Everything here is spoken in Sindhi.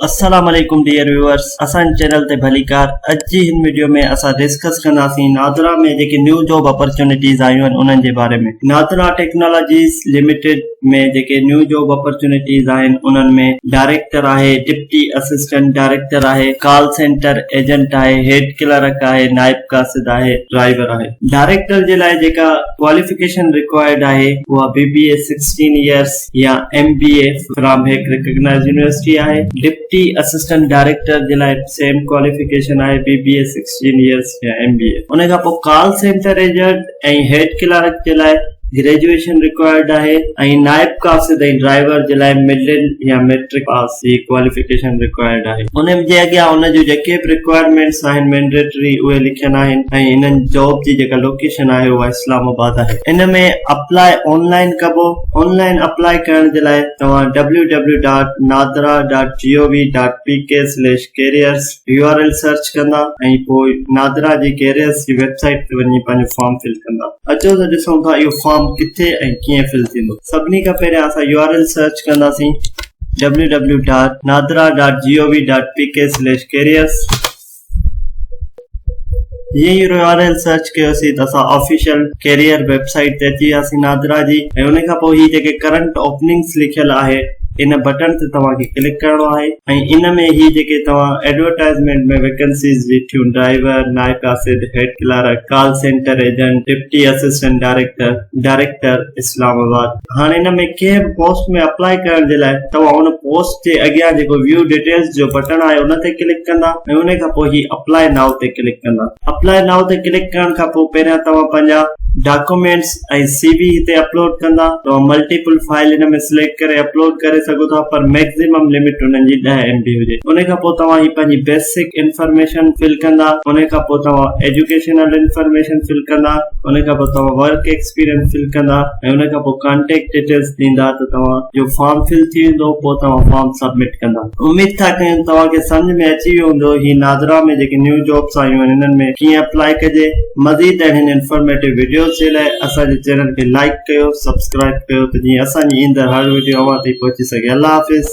السلام عليڪم ڊيئر ويوئرس اسان جي چينل تي ڀليڪار اڄ جي هن وڊيو ۾ اسان ڊسڪس ڪنداسين نادرا ۾ جيڪي نيو جاب اپرچونٽيز آيون آهن انهن جي باري ۾ نادرا ٽيڪنالاجيز لميٽيڊ ۾ جيڪي نيو جاب اپرچونٽيز آهن انهن ۾ ڊائريڪٽر آهي ڊپٽي اسسٽنٽ ڊائريڪٽر آهي ڪال سينٽر ايجنٽ آهي هيڊ ڪلرڪ آهي نائب قاصد آهي ڊرائيور آهي ڊائريڪٽر جي لاء جيڪا ڪواليفڪيشن رڪوائرڊ آهي اها B B A sixteen years يا ايم بي اي فرام هڪ ريڪگنائيزڊ يونيورسٽي آهي. ڊپٽي اسسٽنٽ ڊائريڪٽر جي لاء به سيم ڪواليفڪيشن آهي B B A sixteen years يا ايم بي اي. ان کان پوء call centre agent ۽ head clerk جي لاء گريجوئيشن رڪوائرڊ آهي ۽ نائب قاصد ۽ ڊرائيور جي لاء مڊل يا ميٽرڪ پاس. سي ڪواليفڪيشن رڪوائرڊ آهي. انهن جي اڳيان ان جون جيڪي به رڪوائرمينٽس آهن مينڊيٽري اهي لکيل آهن ۽ انهن جاب جي جيڪا لوڪيشن آهي اها اسلام آباد آهي. ان ۾ اپلاء آن لائن ڪبو. آن لائن اپلاء ڪرڻ جي لاء توهان W W dot NADRA dot G O V dot P K slash careers U R L search ڪندا ۽ پوء نادرا جي ڪيريئرس جي ويب سائيٽ تي وڃي پنهنجو فارم فل ڪندا. اچو ته ڏسون ٿا اهو فارم ڪٿي ۽ ڪيئن فل ٿيندو. سڀني کان پهريان اسان يو آر ايل سرچ ڪنداسين. W W dot NADRA dot G O V dot P K slash careers جيئن يو آر ايل سرچ ڪيوسي ته اسان آفيشل ڪيريئر ويب سائيٽ تي اچي وياسي نادرا جي ۽ ان کان پوء هي جيڪي ڪرنٽ اوپننگس لکيل آهي ان بٽڻ تي توهان کي ڪلڪ ڪرڻو آهي ۽ ان ۾ هي جيڪي توهان ايڊورٽائزمينٽ ۾ ويڪنسيز بيٺيون ڊرائيور نائب آسد head clerk call centre agent deputy assistant director director Islamabad هاڻي ان ۾ ڪنهن به پوسٽ ۾ اپلائي ڪرڻ جي لاء توهان ان پوسٽ جي اڳيان جيڪو View Details جو بٽڻ آهي ان تي ڪلڪ ڪندا ۽ ان کان پوء هي Apply Now تي ڪلڪ ڪندا Apply Now تي ڪلڪ ڪرڻ کان پوء پهريان توهان پنهنجا ڊاڪومينٽس ۽ سي وي هتي اپلوڊ ڪندا توهان ملٽيپل فائل ان ۾ سليڪٽ ڪري اپلوڊ ڪري سگهو ٿا پر ميڪزيمم لمٽ انهن جي ڏهه ايم بي هجي ان کان پوء توهان هي پنهنجي بيسڪ انفارميشن فل ڪندا ان کان پوء توهان ايجوڪيشنل انفارميشن فل ڪندا ان کان پوء توهان ورڪ ايڪسپيرينس فل ڪندا ۽ ان کان پوء ڪانٽيڪٽ ڊيٽيلز ڏيندا ته توهان جو فارم فل ٿي ويندو پوء توهان فارم سبمٽ ڪندا. اميد ٿا ڪيون توهان کي سمجهه ۾ اچي ويو هوندو هي ناظرا ۾ جيڪي نيو جابس آيون آهن انهن ۾ ڪيئن اپلائي ڪجي. مزيد اهڙين انفارميٽو وڊيوز جي لاء اسان جي چينل کي لائيڪ ڪيو سبسڪرائيب ڪيو ته جيئن اسان جي ايندڙ هر وڊيو اوهان تائين پهچي سگهي. الله حافظ.